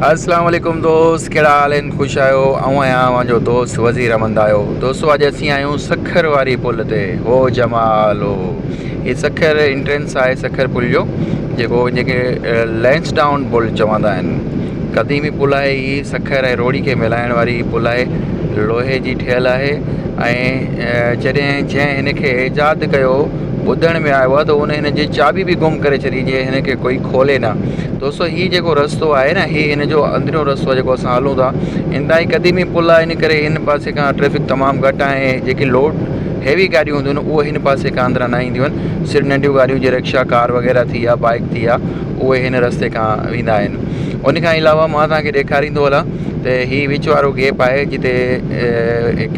السلام عليڪم دوست ڪهڙا حال آهن خوش آهيو آئون آهيان اوهان جو دوست وزير احمد آيو دوستو اڄ اسين آهيون سکر واري پل تي هو جمال هو هي سکر انٽرنس آهي سکر پل جو جيڪو هن کي لينس ڊائون پل چوندا آهن قديمي پل آهي هي سکر ۽ روڙي کي ملائڻ واري هي پل آهي لوهي جي ٺهيل آهي ۽ جڏهن جنهن هن کي ايجاد ڪيو ٻڌڻ ۾ آيو آهي ته هن هن جي چاٻي به گم ڪري ڇڏي جي هن کي ڪوئي کولي نه دوستو هي جيڪو رستو آهي نه هي هن جو اندريون رستو آهي جيڪو اسان هلون ٿا انتهائي قديمي پل آهي ان ڪري هن پاسي کان ٽريفڪ تمام گهٽ آهي ۽ جيڪي لوڊ هيوي گاڏيون هونديون آهن اهي هن پاسي کان اندران نه اينديون آهن صرف ننڍيون گاڏيون جي رڪشا ڪار وغيره ٿي يا بائيڪ ٿي يا اهي هن رستي کان ويندا آهن ان کان علاوه مان توهان کي ڏيکاريندو هلان ته هي وچ وارو گيپ آهي جتي هڪ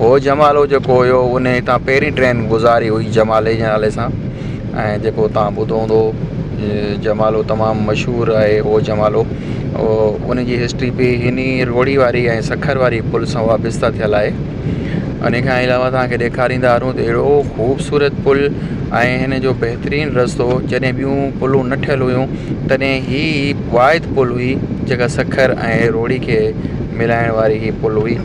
هو جمالو جيڪو هيو انهي هتان پهرين ٽرين گذاري هئي جمالي جي نالي سان ۽ جيڪو تان ٻڌو هوندو جمالو تمام مشهور آهي هو جمالو ان جي هسٽري به هني روهڙي واري ۽ سکر واري پل سان وابسته ٿيل آهي ان کان علاوه تان کي ڏيکاريندا هلون ته اهڙو خوبصورت پل ۽ هن جو بهترين رستو جڏهن ٻيون پلون نه ٺهيل هيون تڏهن هي واحد پل هئي جيڪا سکر ۽ روهڙي کي ملائڻ واري هي پل هئي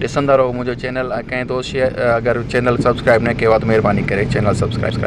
ڏسندا رهو منهنجو چينل ۽ ڪنهن دوست شيئر اگر چينل سبسڪرائب نه ڪيو آهي ته مهرباني ڪري چينل سبسڪرائب